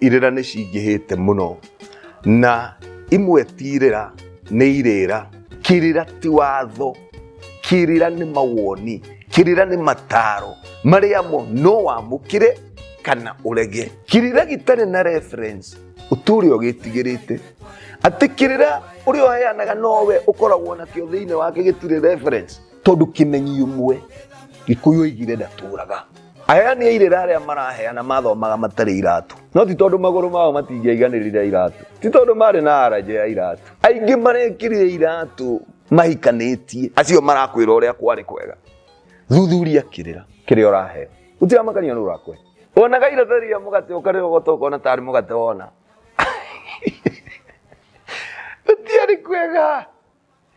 irĩra nĩ cingĩhĩte mũno na imwe ti irĩra nĩ irĩra kĩrĩra ti watho kĩrĩra nĩ mawoni kĩrĩra nĩ mataro marĩa mo no wamũkĩre kana ũrege kĩrĩra gĩtarĩ na reference ũtũre ũgĩtigĩrĩte atĩ kĩrĩra ũrĩa ũheanaga nowe ũkoragwo nakĩo thĩinĩ wake gĩtirĩ reference tondũ kĩmenyi ũmwe gĩkũyũ oigire ndatũraga Aheani a irĩra arĩa maraheana mathomaga matarĩ iratũ, no ti tondũ magũrũ mao matingĩaiganĩrire iratũ, ti tondũ maarĩ na aranja ya iratũ. Aingĩ marekĩrire iratũ mahikanĩtie, acio marakwĩra ũrĩa kwarĩ kwega. Thuthuria kĩrĩra kĩrĩa ũraheo, ũtiramakania nũ ũrakũhe. Wonaga irata rĩa mũgate ũkarĩa ũgota ũkona ta arĩ mũgate wona gũtiarĩ kwega,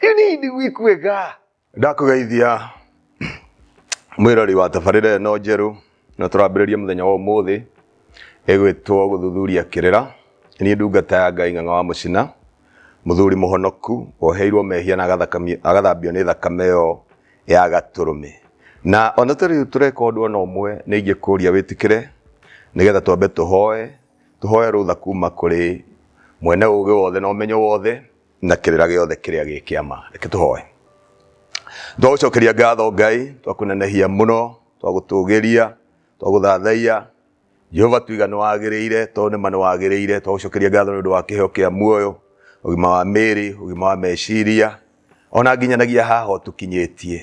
rĩu nĩ indigui kwega. ndakũgeithia mwĩrori wa tabarĩra ĩno njerũ na tũrambĩrĩria mũthenya wa ũmũthĩ ĩgwĩtwo gũthuthuria kĩrĩra niĩ ndungata ya ngai ng'ang'a wa mũcina mũthuri mũhonoku woheirwo mehia na agathakami- agathambio nĩ thakame ĩyo ya gatũrũme na ona tũrĩ tũreka ũndũ ona ũmwe nĩ ingĩkũria wĩtĩkĩre nĩgetha twambe tũhoe tũhoe rũtha kuma kũrĩ mwene ũgĩ wothe na ũmenyo wothe na kĩrĩra gĩothe kĩrĩa gĩ kĩama reke tũhoe twagũcokeria ngatho ngai twakũnenehia mũno twagũtũgĩria twagũthathaiya jehova tuiga nĩ wagĩrĩire tondũ nĩma nĩ wagĩrĩire twagũcokeria ngatho nĩ ũndũ wa kĩheo kĩa muoyo ũgima wa mĩĩrĩ ũgima wa meciria ona nginyanagia haha ũtũkinyĩtie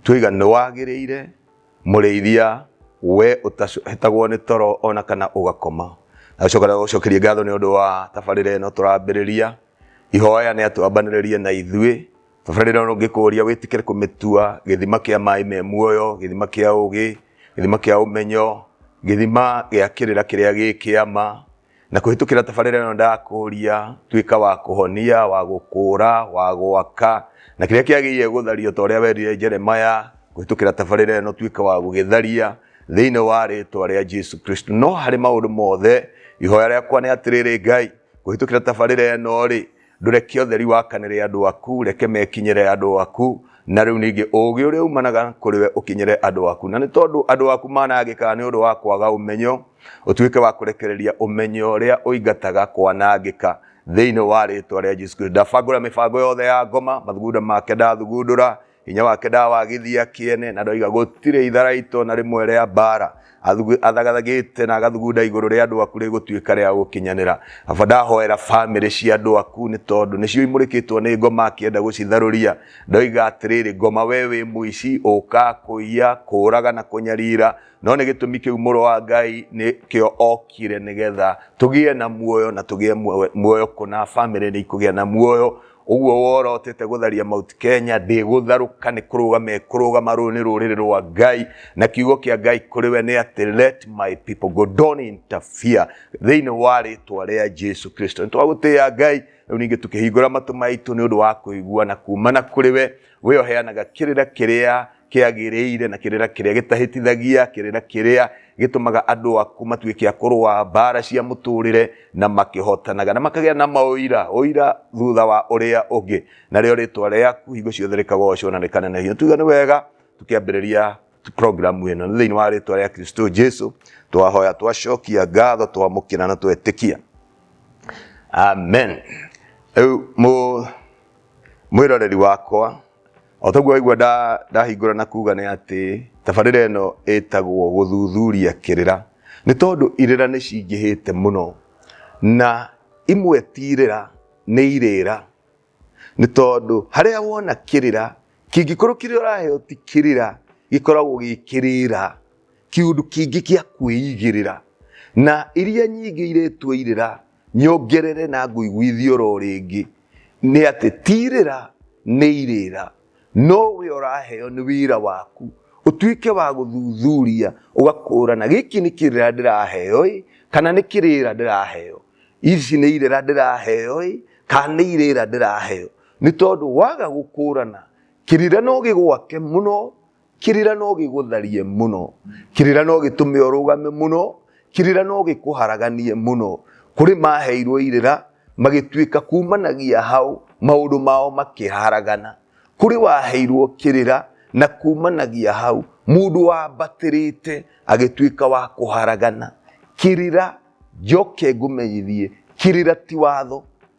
tuiga nĩ wagĩrĩire Mũrĩithia, we ũtahetagwo nĩ toro ona kana ũgakoma. Nagacoka ndagũcokerie ngatho nĩ ũndũ wa tabarĩra ĩno tũrambĩrĩria. Ihoya nĩ atwambanĩrĩrie na ithuĩ. Tabarĩra ĩno ngĩkũria wĩtĩkĩre kũmĩtua gĩthima kĩa maĩ me muoyo, gĩthima kĩa ũgĩ, gĩthima kĩa ũmenyo, gĩthima gĩa kĩrĩra kĩrĩa gĩ kĩama. na kũhĩtũkĩra tabarĩra ĩno ndakũria tuĩka wa kũhonia wa gũkũra wa gwaka na kĩrĩa kĩagĩrĩire gũthario ta ũrĩa werire jeremaya kũhĩtũkĩra tabarĩra ĩno tuĩka wa gũgĩtharia thĩinĩ wa rĩtwa rĩa jesu kristo no harĩ maũndũ mothe ihoya rĩakwa nĩ atĩrĩrĩ ngai kũhĩtũkĩra tabarĩra ĩno rĩ Ndũreke ũtheri wakanĩre andũ aku, reke mekinyĩre andũ aku, na rĩu ningĩ ũũgĩ ũrĩa umanaga kũrĩ we ũkinyĩre andũ aku. Na nĩ tondũ andũ aku manangĩkaga nĩ ũndũ wa kwaga ũmenyo, ũtuĩke wa kũrekereria ũmenyo ũrĩa ũingataga kwanangĩka thĩinĩ wa rĩtwa rĩa Jesu Kristo. Ndabangũra mĩbango yothe ya ngoma, mathugunda make ndathugundũra, hinya wake ndawagithia kĩene na ndoiga gũtirĩ itharaitwo na rĩmwe rĩa mbara athagathagiite na agathugunda iguru ria andu aku rigutuika ria gukinyanira aba ndahoera family cia andu aku ni tondu nicio imurikitwo ni ngoma akienda gucitharuria ndoiga atiriri ngoma we wi muici uka kuiya kuraga na kunyarira no ni gitumi kiu muru wa ngai ni kio okire nigetha tugie na muoyo na tugie muoyo kuna family ni ikugia na muoyo ũguo wora ũtĩte gũtharia Mount Kenya ndĩgũtharũka nĩ kũrũga mekũrũgama rũrũ nĩ rũrĩrĩ rwa Ngai na kiugo kĩa Ngai kũrĩ we nĩ atĩ let my people go don't interfere thĩinĩ wa rĩtwa rĩa Jesu Kristo nĩ twagũtĩya Ngai rĩu ningĩ tũkĩhingũra matũ maitũ nĩ ũndũ wa kũigua na kumana kũrĩ we we ũheanaga kĩrĩra kĩrĩa kĩagĩrĩire na kĩrĩra kĩrĩa gĩtahĩtithagia kĩrĩra kĩrĩa gĩtũmaga andũ aku matuĩke a kũrũa mbara cia mũtũrĩre na makĩhotanaga na makagĩa na maũira ũira thutha wa ũrĩa ũngĩ narĩo rĩtwa rĩaku hingo ciothe rĩkagocwo na rĩkanenehio tuga nĩ wega tukĩambĩrĩria programu ĩno nĩ thĩinĩ wa rĩtwa rĩa kristo jesu twahoya twacokia ngatho twamũkĩra na twetĩkia amen rĩu mũ- mwĩroreri wakwa O toguo waigua nda- ndahingũra na kuga nĩ atĩ tabarĩra ĩno ĩtagwo gũthuthuria kĩrĩra nĩ tondũ irĩra nĩ cingĩhĩte mũno na imwe ti irĩra nĩ irĩra nĩ tondũ harĩa wona kĩrĩra kĩngĩkorwo kĩrĩa ũraheo ti kĩrĩra gĩkoragwo gĩ kĩrĩra kĩũndũ kĩngĩ gĩa kwĩigĩrĩra na iria nyingĩ iretwo irĩra nyongerere na ngũiguithie oro rĩngĩ nĩ atĩ tirĩra nĩ irĩra no we ũraheo nĩ wĩra waku ũtuĩke wa gũthuthuria ũgakũrana gĩkĩ nĩ kĩrĩra ndĩraheo ĩ kana nĩ kĩrĩra ndĩraheo, ici nĩ irĩra ndĩraheo ĩ kana nĩ irĩra ndĩraheo nĩ tondũ waga gũkũrana kĩrĩra no gĩgwake mũno kĩrĩra no gĩgũtharie mũno kĩrĩra no gĩtũme ũrũgame mũno kĩrĩra no gĩkũharaganie mũno kũrĩ maheirwo irĩra magĩtuĩka kumanagia hau maũndũ mao makĩharagana kũrĩ waheirwo kĩrĩra na kumanagia hau mũndũ wambatĩrĩte agĩtuĩka wa kũharagana kĩrĩra njoke ngũmenyithie kĩrĩra ti watho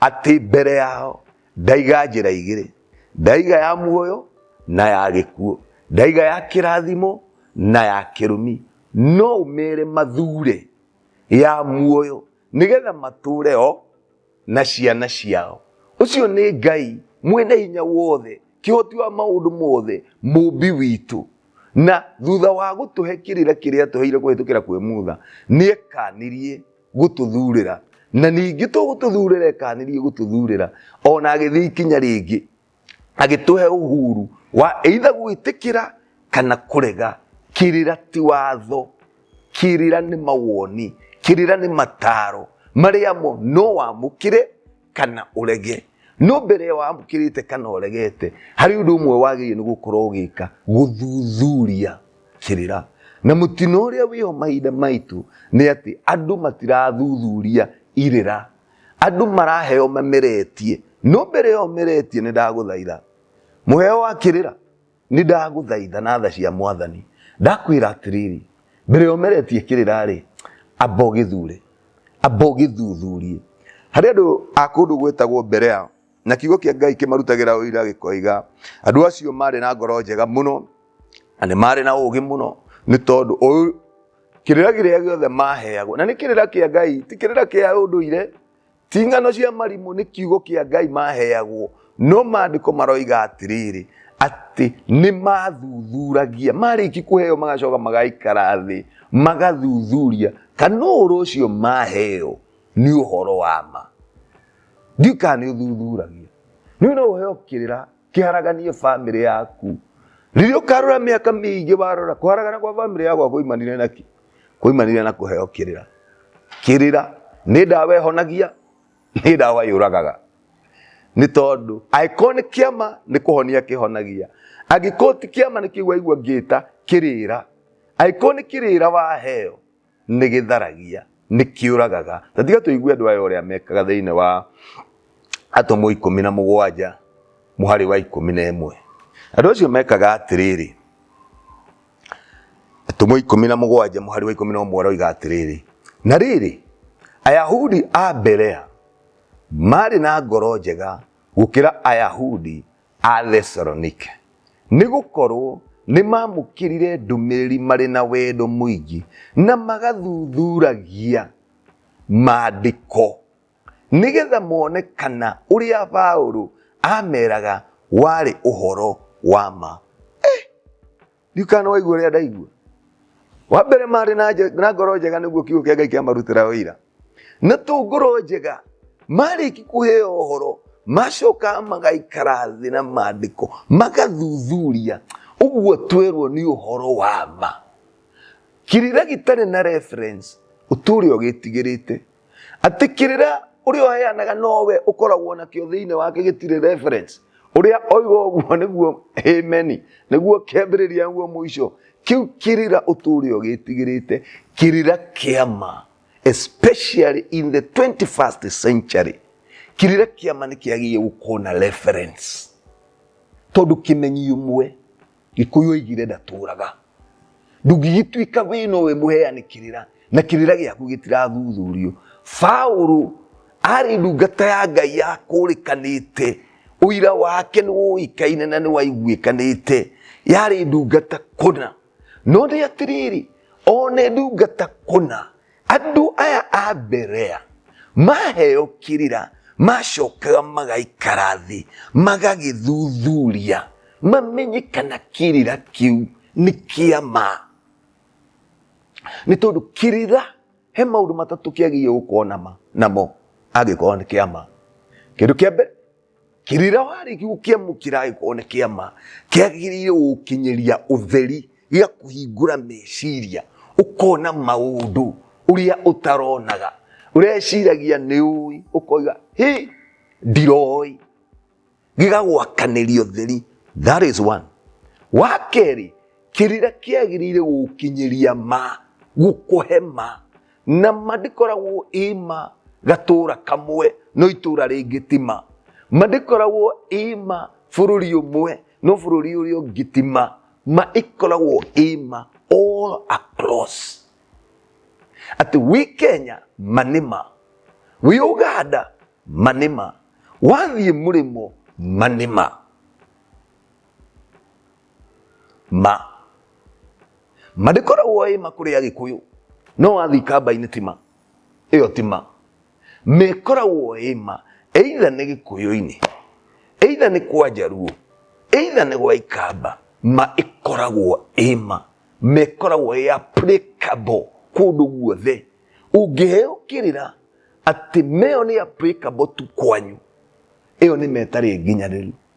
atĩ mbere yao ndaiga njĩra igĩrĩ ndaiga ya muoyo na ya gĩkuo ndaiga ya kĩrathimo na ya kĩrumi no ũmere mathure ya muoyo nĩgetha matũre o na ciana ciao ũcio nĩ ngai mwene hinya wothe kĩhoti wa maũndũ mothe mũmbi witũ na thutha wa gũtũhe kĩrĩra kĩrĩa tũheire kũhĩtũkĩra kwĩ mutha nĩekanirie gũtũthurĩra na ningĩ tũgũtũthurĩra ekanirie gũtũthurĩra ona agĩthiĩ ikinya rĩngĩ agĩtũhe ũhuru wa either gwĩtĩkĩra kana kũrega kĩrĩra ti watho kĩrĩra nĩ mawoni kĩrĩra nĩ mataro marĩa mo no wamũkĩre kana ũrege no mbere ya wamũkĩrĩte kana ũregete harĩ ũndũ ũmwe wagĩrĩire nĩ gũkorwo ũgĩka gũthuthuria kĩrĩra na mũtino ũrĩa wĩho mahinda maitũ nĩ atĩ andũ matirathuthuria irĩra andũ maraheo mameretie no mbere ya ũmeretie nĩ ndagũthaitha mũheo wa kĩrĩra nĩ ndagũthaitha na tha cia mwathani ndakwĩra atĩrĩrĩ mbere ya ũmeretie kĩrĩra-rĩ amba ũgĩthure amba ũgĩthuthurie harĩ andũ a kũndũ gwĩtagwo mberea na kiugo kĩa ngai kĩmarutagĩra ũira gĩkoiga andũ acio marĩ na ngoro njega mũno na nĩ marĩ na ũũgĩ mũno nĩ tondũ ũyũ- kĩrĩra kĩrĩa gĩothe maheagwo na nĩ kĩrĩra kĩa ngai ti kĩrĩra kĩa ũndũire ti ng'ano cia marimũ nĩ kiugo kĩa ngai maheagwo no maandĩko maroiga atĩrĩrĩ atĩ nĩ mathuthuragia marĩki kũheo magacoka magaikara thĩ magathuthuria kana ũhoro ũcio maheo nĩ ũhoro wa ma ndiũ kana nĩ ũthuthuragia nĩ no ũheo kĩrĩra kĩharaganiĩ bamĩrĩ yaku rĩrĩa ũkarora mĩaka mĩingĩ warora kũharagana kwa bamĩrĩ yakwa kwaimanire naki kwaimanire na kũheo kĩrĩra kĩrĩra nĩ ndawa ĩhonagia nĩ ndawa yũragaga nĩ tondũ angĩkorwo nĩ kĩama nĩ kũhonia kĩhonagia angĩkorwo ti kĩama nĩ kĩu waigua ngĩta kĩrĩra angĩkorwo nĩ kĩrĩra waheo nĩ gĩtharagia nĩ kĩũragaga na tiga tũigue andũ aya ũrĩa mekaga thĩinĩ wa atũmwo ikũmi na mũgwanja mũharĩ wa ikũmi na ĩmwe andũ acio mekaga atĩrĩrĩ atũmwo ikũmi na mũgwanja mũharĩ wa ikũmi na ũmwe aroiga atĩrĩrĩ na rĩrĩ ayahudi a mberea maarĩ na ngoro njega gũkĩra ayahudi Athesalonike, nĩ gũkorwo nĩ maamũkĩrire ndũmĩrĩri marĩ na wendo mũingĩ na magathuthuragia maandĩko nĩgetha mone kana ũrĩa Paũlũ aameraga warĩ ũhoro wa ma. ndiũ kana waigua ũrĩa ndaigua wa mbere marĩ na nje- na ngoro njega nĩguo kiugo kĩa ngai kĩamarutĩra ũira na tũ ngoro njega marĩki kũheo ũhoro macokaga magaikara thĩ na maandĩko magathuthuria ũguo twerwo nĩ ũhoro wa ma kirira gĩtarĩ na reference ũtũũre ũgĩtigĩrĩte Atĩ kĩrĩra ũrĩa ũheanaga nowe ũkoragwo nakĩo thĩinĩ wake gĩtirĩ reference. Ũrĩa oiga ũguo nĩguo ameni, nĩguo kĩambĩrĩria nĩguo mũico. Kĩu kĩrĩra ũtũũre ũgĩtigĩrĩte, kĩrĩra kĩa ma especially in the 21st century kirira kiama ni kiagiye gukona reference tondu kimenyi umwe gĩkũyũ oigire ndatũũraga ndũngĩgĩtuĩka wĩ nowe mũheanĩkĩrĩra na kĩrĩra gĩaku gĩtirathuthurio paũrũ arĩ ndungata ya ngai ya kũrĩkanĩte ũira wake nĩ woĩkaine na nĩ waiguĩkanĩte yarĩ ndungata kũna no nĩ atĩrĩrĩ one ndungata kũna andũ aya a mberea maheo kĩrĩra macokaga magaikara thĩ magagĩthuthuria mamenye kana kĩrĩra kĩu nĩ kĩa ma nĩ tondũ kĩrĩra he maũndũ matatũ kĩagĩrĩire gũkorwo nama- namo angĩkorwo nĩ kĩa ma kĩndũ kĩa mbere rĩrĩa warĩki gũkĩamũkĩra agĩkorwo nĩ kĩama kĩagĩrĩire gũkinyĩria ũtheri gĩa kũhingũra meciria ũkona maũndũ ũrĩa ũtaronaga ũreciragia nĩ ũĩ ũkoiga hĩ ndiroĩ gĩgagwakanĩria ũtheri that is one wa kerĩ kĩrĩra kĩagĩrĩire gũkinyĩria ma gũkũhe ma na ma ndĩkoragwo ĩma gatũũra kamwe no itũũra rĩngĩ tima ma ndĩkoragwo ĩma bũrũri ũmwe no bũrũri ũrĩa ũngĩ tima ma ĩkoragwo ĩma all across atĩ wĩ kenya manĩma wĩ ũganda manĩma wathiĩ mũrĩmo manĩma ma ma ndĩkoragwo ĩ ma kũrĩ agĩkũyũ no wathiĩ kamba-inĩ ti ma ĩyo ti ma mĩkoragwo ĩ ma either nĩ gĩkũyũ-inĩ either nĩ kwa njaruo either nĩ gwa ikamba ma ĩkoragwo ĩ ma mĩkoragwo ĩ applicable kũndũ guothe ũngĩheo kĩrĩra atĩ meyo nĩ applicable tu kwanyu ĩyo nĩ metarĩ nginyanĩru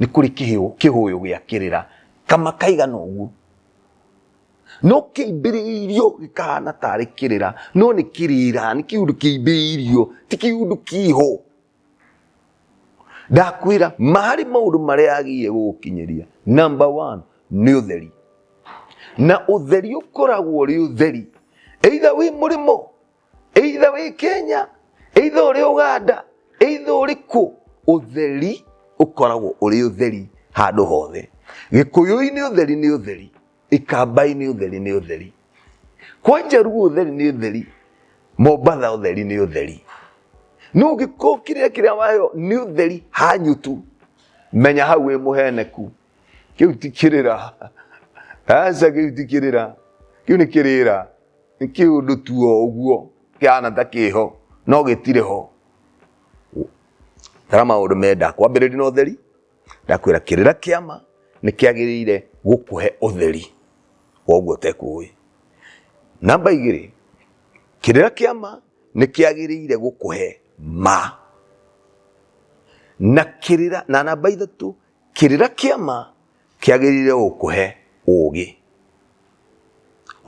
nĩ kũrĩ kĩhũyũ gĩa kĩrĩra kama kaigana ũguo no kĩimbĩrĩirio gĩkahana tarĩ kĩrĩra no nĩ kĩrĩra nĩ kĩundũ kĩimbĩirio ti kĩundũ kĩho ndakwĩra marĩ maũndũ marĩa agĩrĩire gũgũkinyĩria number one nĩ ũtheri na ũtheri ũkoragwo ũrĩ ũtheri either wĩ mũrĩmo either wĩ kenya either ũrĩ uganda either ũrĩ kũ ũtheri ũkoragwo ũrĩ ũtheri handũ hothe gĩkũyũ-inĩ ũtheri nĩ ũtheri ikambai-inĩ ũtheri nĩ ũtheri kwa njaruo ũtheri nĩ ũtheri mombatha ũtheri nĩ ũtheri no ũngĩkorwo kĩrĩa kĩrĩa wayo nĩ ũtheri hanyutu menya hau wĩ mũheneku kĩu ti kĩrĩra aca kĩu ti kĩrĩra kĩu nĩ kĩrĩra nĩ kĩũndũ tu o ũguo kĩhana ta kĩho no gĩtirĩ ho tara maũndũ menda kwambĩrĩria na ũtheri ndakwĩra kĩrĩra kĩama nĩ kĩagĩrĩire gũkũhe ũtheri wa ũguo ũtekũĩ namba igĩrĩ kĩrĩra kĩama nĩ kĩagĩrĩire gũkũhe ma na kĩrĩra na namba ithatũ Kĩrĩra kĩa ma kĩagĩrĩire gũkũhe ũũgĩ,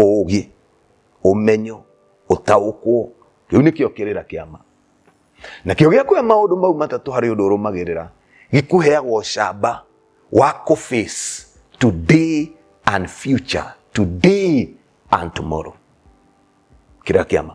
ũũgĩ, ũmenyo, ũtaũkwo. Kĩu nĩkĩo kĩrĩra kĩa ma. Nakĩo gĩakũhe maũndũ mau matatũ harĩ ũndũ ũrũmagĩrĩra, gĩkũheaga ũcamba wa kũ face today and future, today and tomorrow. Kĩrĩra kĩa ma.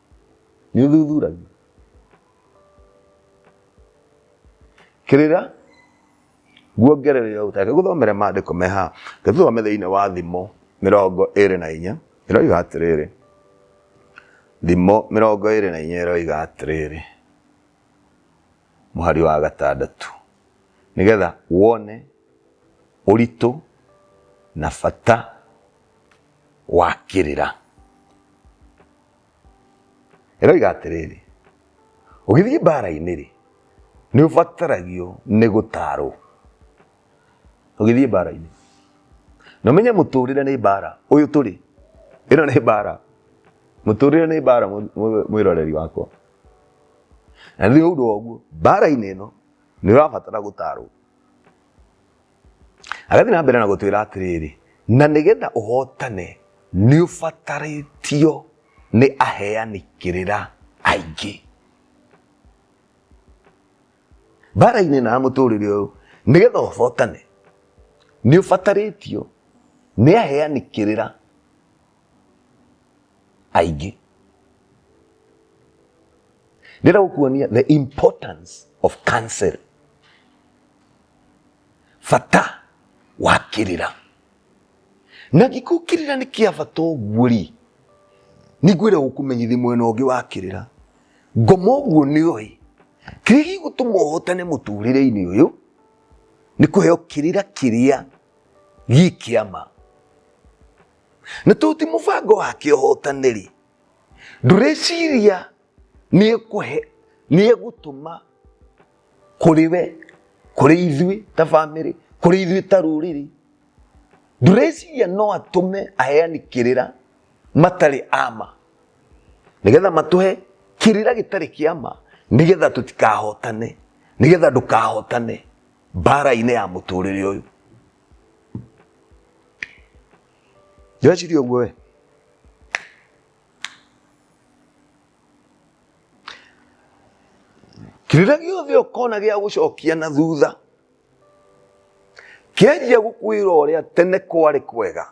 nĩ ũthuthuragia kĩrĩra guongerere o ũtake gũthomere maandĩko me haha gĩthome thĩinĩ wa thimo mĩrongo ĩrĩ na inya ĩroiga atĩrĩrĩ thimo mĩrongo ĩrĩ na inya ĩroiga atĩrĩrĩ mũhari wa gatandatũ nĩgetha wone ũritũ na bata wa kĩrĩra ĩroiga atĩrĩrĩ ũgĩthiĩ mbara-inĩ rĩ nĩ ũbataragio nĩ gũtarwo ũgĩthiĩ mbara-inĩ na ũmenye mũtũrĩre nĩ mbara ũyũ tũrĩ ĩno nĩ mbara mũtũrĩre nĩ mbara mwĩroreri wakwa na nĩ ũndũ wa ũguo mbara-inĩ ĩno nĩ ũrabatara gũtarwo agathiĩ na mbere na gũtwĩra atĩrĩrĩ na nĩgetha ũhotane nĩ ũbatarĩtio nĩ aheani kĩrĩra aingĩ mbara-inĩ na mũtũrĩre ũyũ nĩgetha ũhotane nĩ ũbatarĩtio nĩ aheani kĩrĩra aingĩ ndĩra gũkuonia the importance of counsel bata wa kĩrĩra na gĩkuũ kĩrĩra nĩ kĩa bata ũguo rĩ nĩngwĩra gũkũmenyithia mwena ũngĩ wa kĩrĩra ngoma ũguo nĩ ũĩ kĩrĩa gĩgũtũma ũhotane mũtũrĩre-inĩ ũyũ nĩ kũheo kĩrĩra kĩrĩa gĩ kĩama na tondũ ti mũbango wake ũhotane rĩ ndũreciria nĩ ekũhe nĩ egũtũma kũrĩ we kũrĩ ithuĩ ta bamĩrĩ kũrĩ ithuĩ ta rũrĩrĩ ndũreciria no atũme aheani kĩrĩra matarĩ ama nĩgetha matũhe kĩrĩra gĩtarĩ kĩama nĩgetha tũtikahotane nĩgetha ndũkahotane mbara-inĩ ya mũtũrĩre ũyũ ndĩreciria ũguo we kĩrĩa gĩothe ũkona gĩa gũcokia na thutha kĩanjia gũkwĩra ũrĩa tene kwarĩ kwega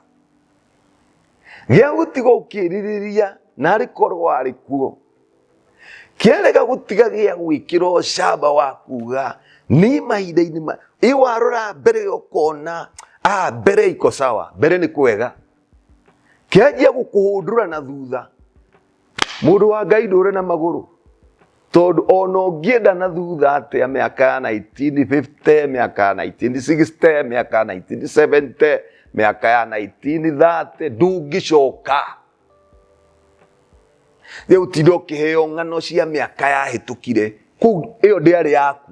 gĩa gũtiga ũkĩrirĩria narĩ korwo arĩ kuo kĩarega gũtiga gĩa gwĩkĩra ũcamba wa kuga nĩ mahinda-inĩ ma iwarora mbere ũkona a mbere iko sawa mbere nĩ kwega kĩanjia gũkũhũndũra na thutha Mũndũ wa Ngai ndũrĩ na magũrũ tondũ ona ũngĩenda na thutha atĩa mĩaka ya 1950 mĩaka ya 1960 mĩaka ya 1970 mĩaka ya 1930 ndũngĩcoka rĩu tinda ũkĩheo ng'ano cia mĩaka yahĩtũkire kũu ĩyo ndĩarĩ yaku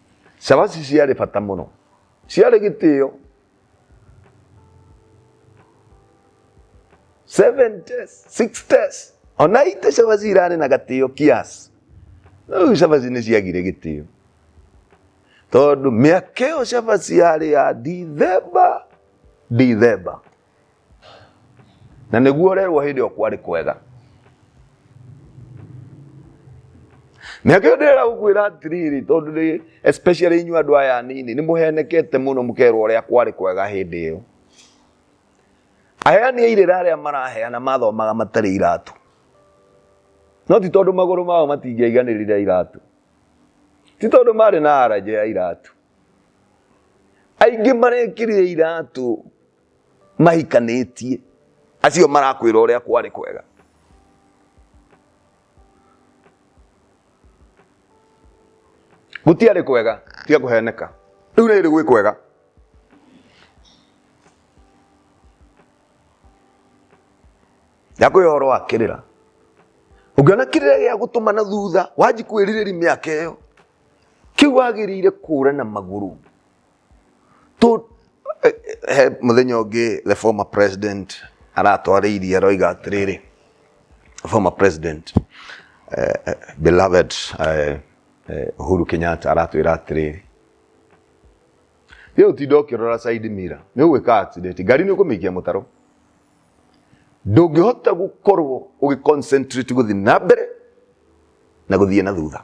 Cabaci ciarĩ bata mũno, ciarĩ gĩtĩo. 7 test, 6 test, ona ite cabaci irarĩ na gatĩo kiasi. No rĩu cabaci nĩ ciagire gĩtĩo. Tondũ mĩaka ĩyo cabaci yarĩ ya Dithemba, Dithemba. na nĩguo ũrerwo hĩndĩ ĩyo kwarĩ kwega nake ndĩrera gũkwĩra atĩrĩrĩ tondũ nĩ especially inyuĩ andũ aya anini nĩ mũhenekete mũno mũkerwo ũrĩa kwarĩ kwega hĩndĩ ĩyo aheani a irĩra arĩa maraheana mathomaga matarĩ iratũ no ti tondũ magũrũ mao matingĩaiganĩrire iratũ ti tondũ marĩ na aranja ya iratũ aingĩ marekĩrire iratũ mahikanĩtie acio marakwĩra ũrĩa kwarĩ kwega gũtiarĩ kwega tiga kũheneka rĩu nĩ rĩ gwĩ kwega yakwĩ ũhoro wa kĩrĩra ũngĩona kĩrĩra gĩa gũtũma na thutha wanji kwĩrirĩri mĩaka ĩyo kĩu wagĩrĩire kũra na magũrũ to eh, eh, he mũthenya ũngĩ the former president aratwarĩirie aroiga atĩrĩrĩ former president eh, eh, beloved eh, eh, Uhuru Kenyatta aratwĩra atĩrĩrĩ rĩu tinda ũkĩrora side mirror nĩ ũgwĩka accident ngari nĩ ũkũmĩikia mũtaro ndũngĩhota gũkorwo ũgĩ concentrate gũthiĩ na mbere na gũthiĩ na thutha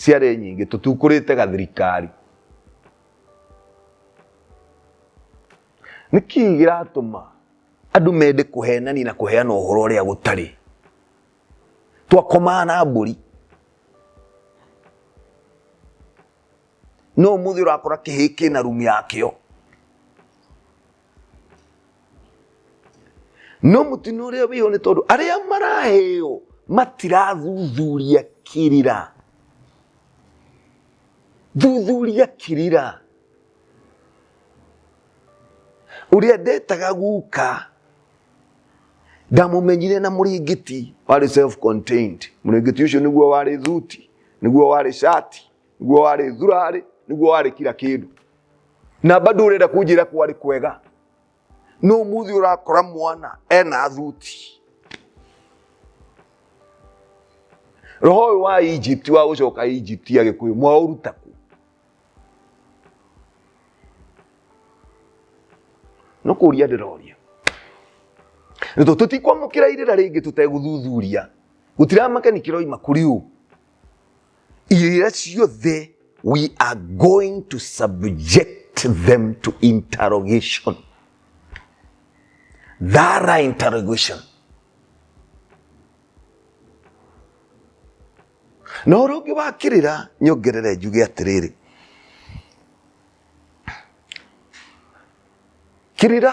ciarĩ nyingĩ tũtiukũrĩte gathirikari nĩ kĩĩ gĩratũma andũ mende kũhenania na kũheana ũhoro ũrĩa gũtarĩ twakomaa na mbũri no mũthĩ ũrakora kĩhĩ kĩna rumu yakĩo no mũtino ũrĩa wĩho nĩ tondũ arĩa maraheo matirathuthuria kĩrĩra thuthuria kĩrĩra ũrĩa ndetaga guka ndamũmenyire na mũrĩngĩti warĩ self contained mũrĩngĩti ũcio nĩguo warĩ thuti nĩguo warĩ shati niguo warĩ thurarĩ niguo warĩ kira kĩndũ na bado ũrenda kũnjĩra kwarĩ kwega no muthi ũrakora mwana ena thuti roho ũyũ wa egypt wa gũcoka egypt agĩkũyũ mwaũruta kũ no kũria ndĩroria nĩ tondũ tũtikwamũkĩra irĩra rĩngĩ tũtegũthuthuria gũtiramakani kĩroima kũrĩ ũ irĩra ciothe we are going to subject them to interrogation thara interrogation na ũrĩa ũngĩ wakĩrĩra nyongerere njuge atĩrĩrĩ kĩrĩra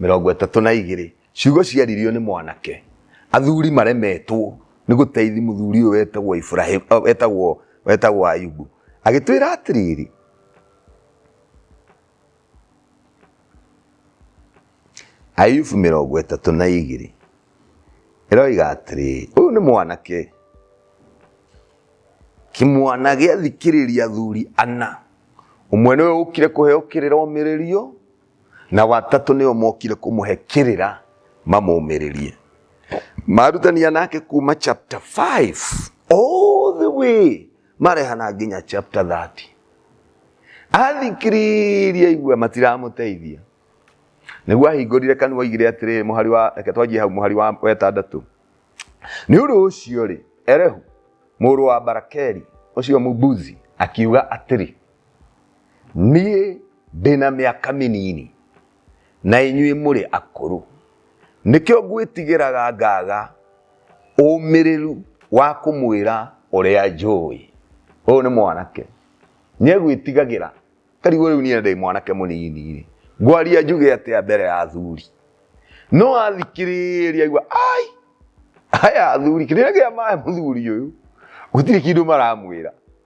mĩrongo ĩtatũ na igĩrĩ ciugo ciaririo nĩ mwanake athuri maremetwo nĩ gũteithi mũthuri ũyũ wetagwo Ibrahim eh, wetagwo wetagwo Ayubu agĩtwĩra atĩrĩrĩ Ayubu mĩrongo ĩtatũ na igĩrĩ ĩroiga atĩrĩ ũyũ nĩ mwanake kĩmwana gĩathikĩrĩria athuri ana ũmwe nĩwe ũkire kũheo kĩrĩra ũmĩrĩrio na watatũ nĩo mokire kũmũhe kĩrĩra mamũmĩrĩrie marutania nake kuma chapter 5 all the way marehana nginya chapter 30 athikiririe aigua matiramũteithia nĩguo ahingũrire kanua igire atĩrĩrĩ mũhari wa reke twanjie hau mũhari wa wetandatũ nĩ ũndũ ũcio rĩ erehu mũrũ wa barakeli ũcio mũbuzi akiuga atĩrĩ niĩ ndĩ na mĩaka mĩnini na inyuĩ mũrĩ akũrũ nĩkĩo ngwĩtigĩraga ngaga ũmĩrĩru wa kũmwĩra ũrĩa njũĩ ũyũ nĩ mwanake nĩegwĩtigagĩra tarigwo rĩu niĩ ndĩ mwanake mũnini rĩ ngwaria njuge atĩa mbere ya athuri no athikĩrĩria igua ai aya athuri kĩrĩa gĩa maĩ mũthuri ũyũ gũtirĩ kĩndũ maramwĩra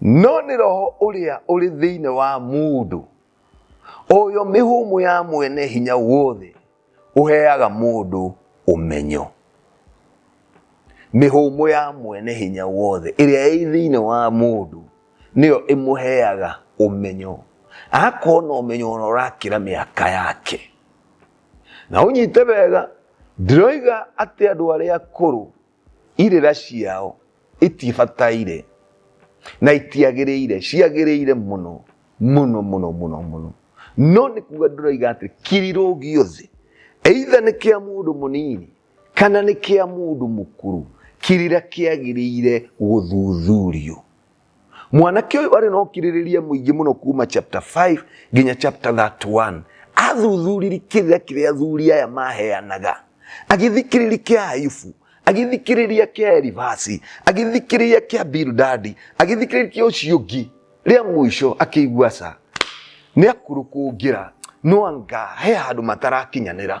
no nĩ roho ũrĩa ũrĩ thĩinĩ wa mũndũ ũyũ mĩhũmũ ya mwene hinya wothe ũheaga mũndũ ũmenyo mĩhũmũ ya mwene hinya wothe ĩrĩa ĩ thĩinĩ wa mũndũ nĩyo ĩmũheaga ũmenyo agakorwo na ũmenyo ona ũrakĩra mĩaka yake na ũnyite wega ndiroiga atĩ andũ arĩa akũrũ irĩra ciao itibataire na itiagĩrĩire ciagĩrĩire mũno mũno mũno mũno mũno no nĩ kuga ndũraiga atĩ kirirũ gĩothe eitha nĩ kĩa mũndũ mũnini kana nĩ kĩa mũndũ mũkũrũ kirira kĩagĩrĩire gũthuthurio mwanake ũyũ arĩ na ũkirĩrĩria mũingĩ mũno kuma chapter 5 nginya chapter 31 athuthuriri kĩrĩa kĩrĩa athuri aya maheanaga agĩthikĩrĩria kĩa ayubu agĩthikĩrĩria kĩa elivasi agĩthikĩrĩria kĩa bildadi agĩthikĩrĩria kĩa ũcio ũngĩ rĩa mũico akĩigua ca nĩ akũrũkũngĩra no anga he handũ matarakinyanĩra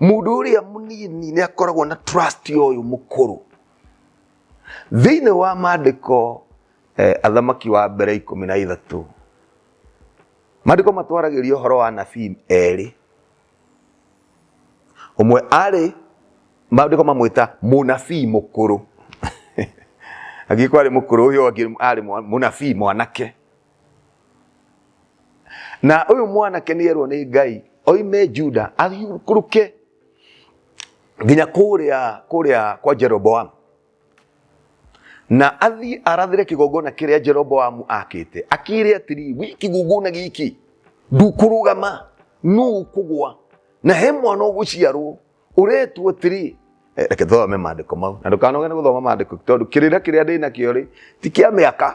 mũndũ ũrĩa mũnini nĩ akoragwo na trust ya ũyũ mũkũrũ thĩinĩ wa maandĩko eh, athamaki wa mbere ikũmi na ithatũ maandĩko matwaragĩria ũhoro wa nabii erĩ ũmwe arĩ maandĩko mamwĩta mũnabii mũkũrũ angĩkorwo arĩ mũkũrũ ũyũ ũngĩ arĩ mwa- mũnabii mwanake na ũyũ mwanake nĩ erwo nĩ ngai oime juda athiũrũkũrũke nginya kũrĩa kũrĩa kwa jeroboamu na athiĩ arathĩre kĩgongona kĩrĩa jeroboamu akĩte akĩre atĩrĩ gwĩ kĩgongona gĩkĩ ndukũrũgama no ũkũgwa na he mwana ũgũciarwo ũretwo atĩrĩ Eh, reke thome maandĩko mau na ndũkanoge nĩ gũthoma maandĩko tondũ kĩrĩra kĩrĩa ndĩ nakĩo rĩ ti kĩa mĩaka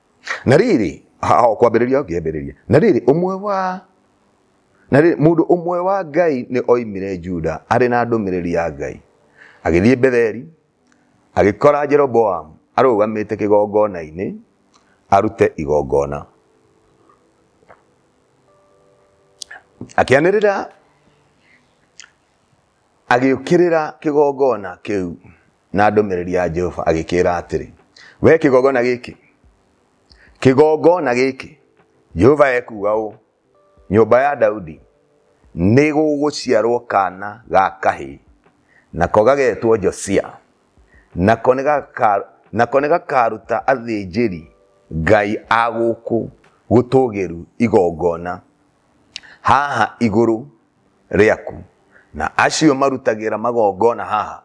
na rĩrĩ hao kwambĩrĩria ũngĩambĩrĩria na rĩrĩ ũmwe wa na rĩrĩ mũndũ ũmwe wa ngai nĩ oimire juda arĩ na ndũmĩrĩri ya ngai agĩthiĩ betheli agĩkora jeroboamu arũgamĩte kĩgongona-inĩ arute igongona akĩanĩrĩra agĩũkĩrĩra kĩgongona kĩu na ndũmĩrĩri ya Jehova agĩkĩra atĩrĩ, we kĩgongona gĩkĩ, kĩgongona gĩkĩ, Jehova ekuga ũũ, nyũmba ya Daudi nĩ gũgũciarwo kana ga kahĩĩ, nako gagetwo Josia, nako nĩ gaka- nako nĩ gakaruta athĩnjĩri Ngai a gũkũ gũtũũgĩru igongona haha igũrũ rĩaku, na acio marutagĩra magongona haha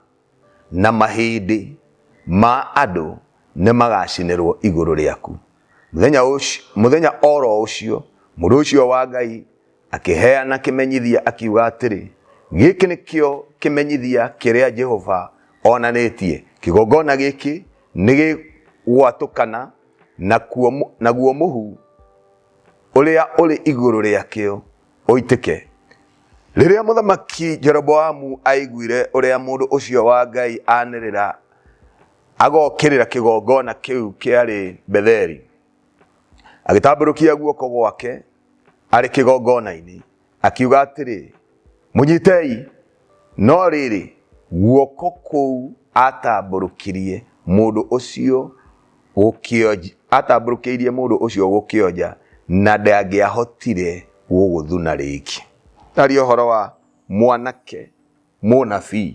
Na mahĩndĩ ma andũ nĩmagacinĩrwo igũrũ rĩaku. Mũthenya ũcio, mũthenya o ro ũcio, mũndũ ũcio wa Ngai akĩheana kĩmenyithia, akiuga atĩrĩ, Gĩkĩ nĩkĩo kĩmenyithia kĩrĩa Jehova onanĩtie, Kĩgongona gĩkĩ nĩgĩgwatũkana, nakuo, naguo mũhu ũrĩa ũrĩ igũrũ rĩakĩo ũitĩke. Rĩrĩa mũthamaki Jeroboamu aiguire ũrĩa mũndũ ũcio wa Ngai anĩrĩra agokĩrĩra kĩgongona kĩu kĩarĩ Betheli, agĩtambũrũkia guoko gwake arĩ kĩgongona-inĩ, akiuga atĩrĩ, mũnyitei. No rĩrĩ, guoko kũu aatambũrũkirie mũndũ ũcio gũkĩonj- aatambũrũkĩirie mũndũ ũcio gũkĩonja, na ndangĩahotire gũgũthuna rĩngĩ. Tari ũhoro wa mwanake mũnabii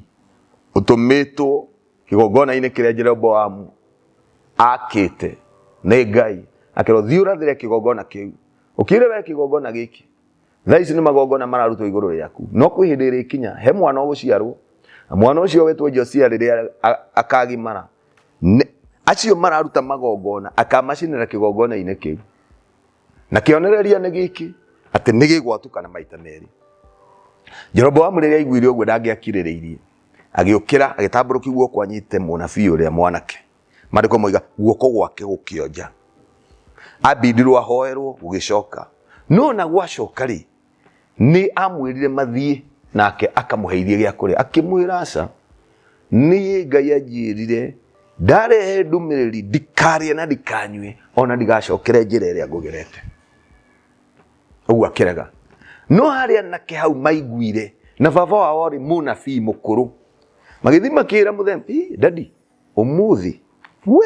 ũtũmĩtwo kĩgongona-inĩ kĩrĩa Jeroboamu aakĩte nĩ Ngai, akerwo, thiĩ ũrathĩre kĩgongona kĩu, ũkĩre we kĩgongona gĩkĩ, thaa ici nĩ magongona mararutwo igũrũ rĩaku, no kwĩ hĩndĩ ĩrĩkinya, he mwana ũgũciarwo, na mwana ũcio wĩtwo Josia rĩrĩa a- akaagimara, Nĩ- acio mararuta magongona akamacinĩra kĩgongona-inĩ kĩu na kĩonereria nĩ gĩkĩ atĩ nĩ gĩgwatũkana maita merĩ jeroboamu rĩrĩa aiguire ũguo ndangĩakirĩrĩirie agĩũkĩra agĩtambũrũkia guoko anyite mũnabii ũrĩa mwanake maandĩko moiga guoko gwake gũkĩonja abindirwo ahoerwo gũgĩcoka no na gwacoka rĩ nĩ amwĩrire mathiĩ nake akamũhe irie gĩa kũrĩa akĩmwĩra aca niĩ ngai anjĩrire ndarehe ndũmĩrĩri ndikarĩe na ndikanyue ona ndigacokere njĩra ĩrĩa ngũgerete ũguo akĩrega no harĩ anake hau maiguire na baba wao rĩ mũnabii mũkũrũ magĩthiĩ makĩra mũthembi dadi ũmũthĩ we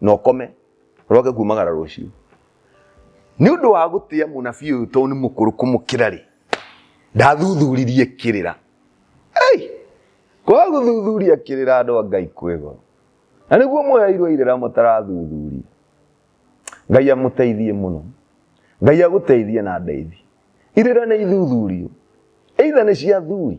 na ũkome ũroke kumagara rũciũ nĩ ũndũ wa gũtĩa mũnabii ũyũ tondũ nĩ mũkũrũ kũmũkĩra rĩ ndathuthuririe kĩrĩra Ei! kwaga gũthuthuria kĩrĩra andũ a ngai kwĩ goro na nĩguo mweheirwo irĩra mũtarathuthuria ngai amũteithie mũno ngai agũteithie na ndeithi irĩra nĩ ithuthurio eitha nĩ cia athuri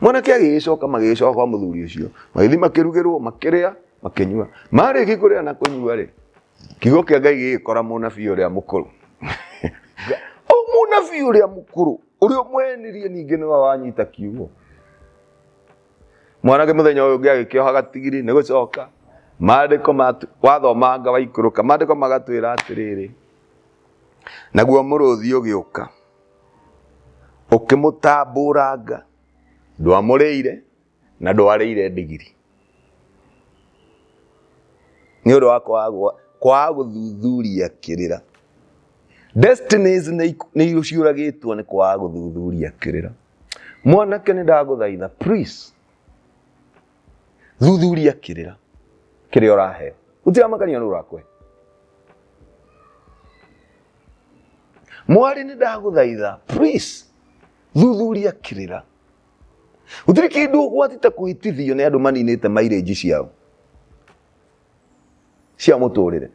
mwanake agĩgĩcoka magĩgĩcoka kwa mũthuri ũcio magĩthiĩ makĩrugĩrwo makĩrĩa makĩnyua marĩki kũrĩa na kũnyua rĩ kiugo kĩa ngai gĩgĩkora mũnabii ũrĩa mũkũrũ o mũnabii ũrĩa mũkũrũ ũrĩa ũmwenirie ningĩ nĩwe wanyita kiugo mwanake mũthenya ũyũ ũngĩ agĩkĩoha gatigiri nĩ gũcoka maandĩko matu- wathomanga waikũrũka maandĩko magatwĩra atĩrĩrĩ naguo mũrũthi ũgĩũka ũkĩmũtambũranga ndwamũrĩire na ndwarĩire ndigiri nĩ ũndũ wa kwaga gũthuthuria kĩrĩra destinies nĩ ciũragĩtwo nĩ kwaga gũthuthuria kĩrĩra mwanake nĩ ndagũthaitha please thuthuria kĩrĩra kĩrĩa ũraheo ũtiramakania nũ ũrakũhe mwarĩ nĩ ndagũthaitha please thuthuria kĩrĩra gũtirĩ kĩndũ ũgwati ta kũhĩtithio nĩ andũ maninĩte mairĩnji ciao cia mũtũrĩre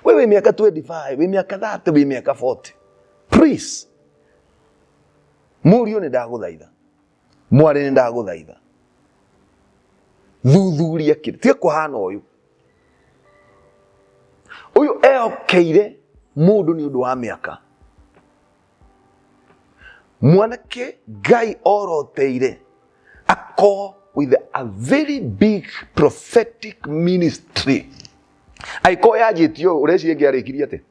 we wĩ mĩaka 25 wĩ mĩaka 30 wĩ mĩaka 40 please Mũriũ nĩ ndagũthaitha, mwarĩ nĩ ndagũthaitha, thuthuria kĩrĩa, tiga kũhana ũyũ. Ũyũ ehokeire mũndũ nĩ ũndũ wa mĩaka. Mwanake Ngai oroteire akorwo with a very big prophetic ministry. Angĩkorwo yanjĩtio ũreciria ngĩarĩkirie atĩa?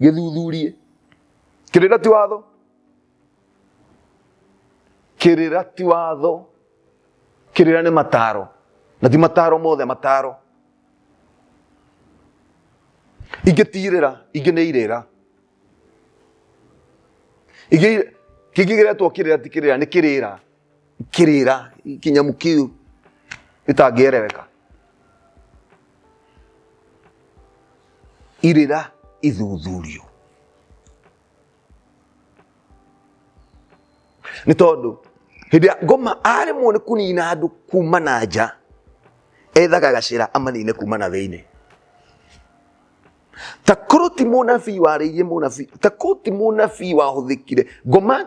gĩthuthurie kĩrĩra ti watho kĩrĩra ti watho kĩrĩra nĩ mataro na ti mataro mothe mataro ingĩ tirĩra ingĩ nĩ irĩra ingĩ kĩngĩ gĩretwo kĩrĩra ti kĩrĩra nĩ kĩrĩra kĩrĩra kĩnyamu kĩu gĩtangĩereweka irĩra ithuthurio nĩ tondũ hĩndĩ ya ngoma aremwo nĩ kũnina andũ kuma na nja ethaga gacĩra amanine kuma na thĩinĩ ta korwo ti mũnabii warĩirie mũnabii ta korwo ti mũnabii wahũthĩkire ngoma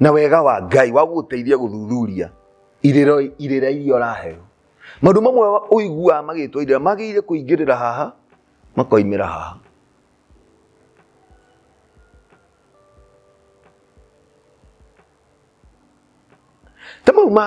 na wega wa ngai wa gũgũteithia gũthuthuria irĩro- irĩra iria ũraheo maũndũ mamwe wa- ũiguaga magĩtwo irĩra magĩire kũingĩrĩra haha makoimĩra haha ta mau ma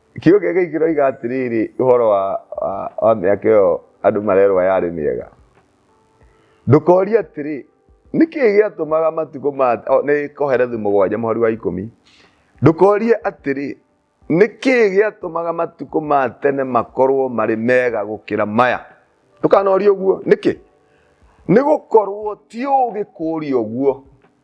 kĩũngĩ gĩkĩ kĩroiga atĩrĩrĩ ũhoro wa wa- wa mĩaka ĩyo andũ marerwa yarĩ mĩega ndũkoria atĩrĩ nĩkĩ gĩatũmaga matukũ ma o, nĩ koherethi mũgwanja mũhari wa ikũmi ndũkorie atĩrĩ nĩkĩ gĩatũmaga matukũ ma tene makorwo marĩ mega gũkĩra maya ndũkanorie ũguo nĩkĩ nĩ gũkorwo ti ũgĩ kũũria ũguo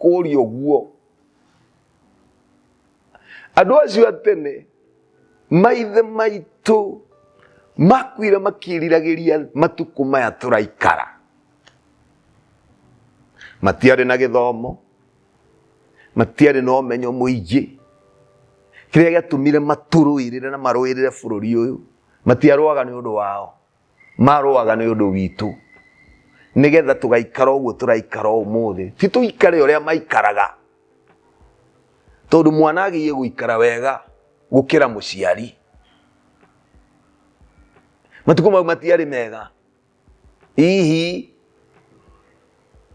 kũũria ũguo andũ acio a tene maithe maitũ makuire makĩriragĩria matukũ maya tũraikara matiarĩ na gĩthomo matiarĩ na ũmenyo mũingĩ kĩrĩa gĩatũmire matũrũĩrĩre na marũĩrĩre bũrũri ũyũ matiarũaga nĩ ũndũ wao marũaga nĩ ũndũ witũ nĩ getha tũgaikara ũguo tũraikara ũmũthĩ ti tũikare ũrĩa maikaraga tondũ mwana agĩie gũikara wega gũkĩra mũciari matukũ mau matiarĩ mega hihi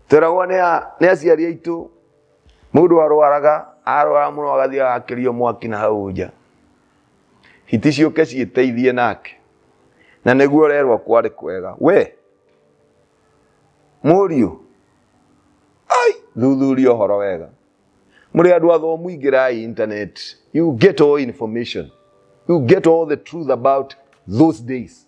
tweragwo nĩ aciari aitũ mũndũ arwaraga arwara mũno agathiĩ agakĩrio mwaki na hau nja hiti ciũke ciĩteithie nake na nĩguo ũrerwo kwarĩ kwega we mũriũ ai thuthuria ũhoro wega mũrĩ andũ athomu ingĩrai internet you get all information you get all the truth about those days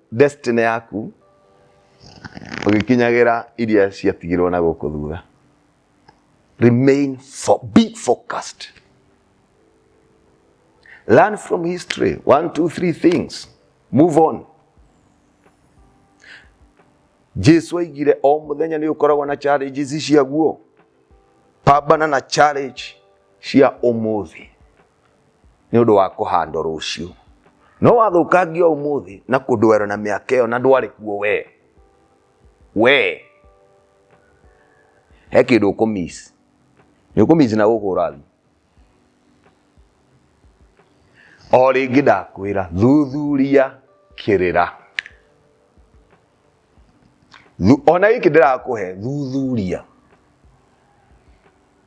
destiny yaku ũgĩkinyagira iria ciatigirwo na gũkũ thutha remain for, be focused learn from history one two three things move on jesu aigire o muthenya ni ukoragwo na challenges ciaguo pambana na challenge cia umuthi nĩ ũndũ wa kũhandwo rũciũ no wathũkangio ũmũthĩ na kũndwero na mĩaka ĩyo na ndwarĩ kuo wee wee he kĩndũ ũkũmis nĩ ũkũmis na gũkũ ũrathiĩ o rĩngĩ ndakwĩra thuthuria kĩrĩra Thu- ona gĩkĩ ndĩrakũhe thuthuria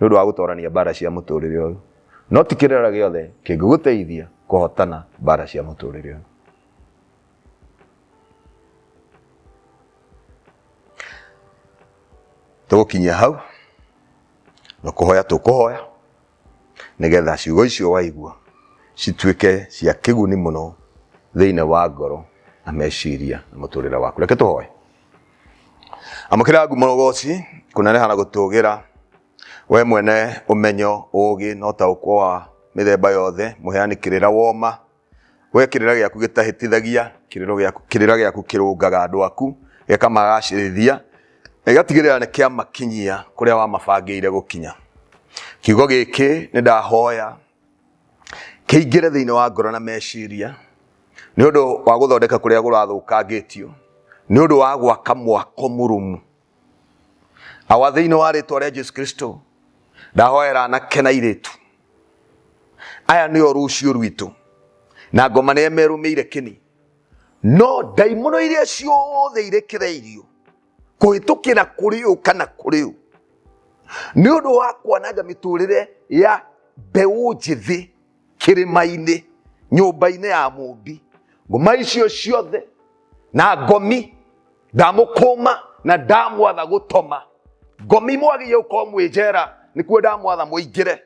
nĩ ũndũ wa gũtoorania mbaara cia mũtũũrĩre ũyũ, no ti kĩrĩra gĩothe kĩngĩgũteithia kũhootana mbaara cia mũtũũrĩre ũyũ. Tũgũkinyia hau, na kũhoya tũkũhoya nĩ getha ciugo icio waigua cituĩke cia kĩguni mũno thĩinĩ wa ngoro na meciria na mũtũũrĩre waku. Reke tũhoye. amũkĩra ngumo ũgoci kũneneha na gũtũgĩra we mwene ũmenyo ũũgĩ na ũtaũkwo wa mĩthemba yothe mũheani kĩrĩra woma we kĩrĩra gĩaku gĩtahĩtithagia kĩrĩro gĩaku- kĩrĩra gĩaku kĩrũngaga andũ aku gĩkamagacĩrithia na gĩgatigĩrĩra nĩ kĩamakinyia kũrĩa wamabangĩire gũkinya kiugo gĩkĩ nĩ ndahoya kĩingĩre thĩinĩ wa ngoro na meciria nĩ ũndũ wa gũthondeka kũrĩa gũrathũkangĩtio nĩ ũndũ wa gwaka mwako mũrũmu awa thĩinĩ wa rĩtwa rĩa jesu kristo ndahoera anake na irĩtu aya nĩo rũciũ rwitũ na ngoma nĩyo merũmĩire kĩni no ndaimono iria ciothe irekereirio kũhĩtũkĩra kũrĩ ũ kana kũrĩ ũ nĩ ũndũ wa kwananga mĩtũrĩre ya mbeũ njĩthĩ kĩrĩma-inĩ nyũmba-inĩ ya mũmbi ngoma icio ciothe na ngomi ndamũkũma na ndamwatha gũtoma ngomi mwagĩrĩire gũkorwo mwĩ njera nĩkuo ndamwatha mũingĩre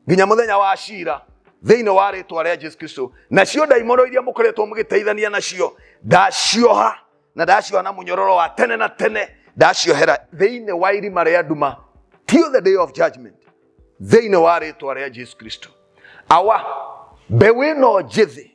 nginya mũthenya wa cira thĩinĩ wa rĩtwa rĩa jesu kristo nacio ndaimono iria mũkoretwo mũgĩteithania nacio ndacioha na ndacioha na munyororo wa tene na tene ndaciohera thiini wa irima ria nduma till the day of judgment thiini wa ritwa ria jesu kristo awa mbeu ino njithi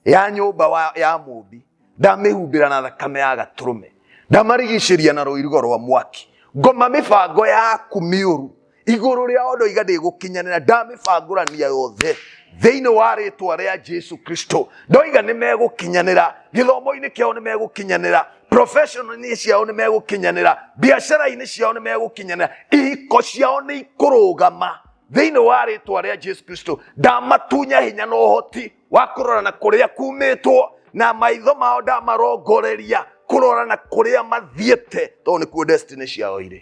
ya nyumba wa- ya mumbi ndamihumbira na thakame ya gaturume ndamarigiciria na ruirigo rwa mwaki ngoma mibango yaku miuru igũrũ rĩa o ndoiga ndĩgũkinyanĩra ndamĩbangũrania yothe thĩinĩ wa rĩtwa rĩa jesu kristo ndoiga nĩ megũkinyanĩra gĩthomo-inĩ kĩao nĩ megũkinyanĩra professional-inĩ ciao nĩ megũkinyanĩra biacara-inĩ ciao nĩ megũkinyanĩra ihiko ciao nĩ ikũrũgama thĩinĩ wa rĩtwa rĩa jesu kristo ndamatunya hinya na ũhoti wa kũrorana kũrĩa kumĩtwo na maitho mao ndamarongoreria kũrorana kũrĩa mathiĩte tondũ nĩkuo destiny ciao irĩ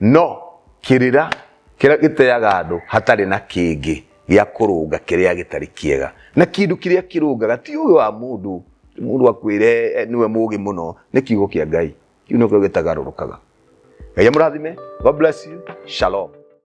No kĩrĩra kĩrĩa gĩteaga andũ hatarĩ na kĩngĩ gĩa kũrũnga kĩrĩa gĩtarĩ kĩega. Na kĩndũ kĩrĩa kĩrũngaga ti ũũgĩ wa mũndũ, ti mũndũ akwĩre nĩwe mũũgĩ mũno, nĩ kiugo kĩa Ngai. Kĩu nĩkĩo gĩtagarũrũkaga. Ngai amũrathime. God bless you. Shalom.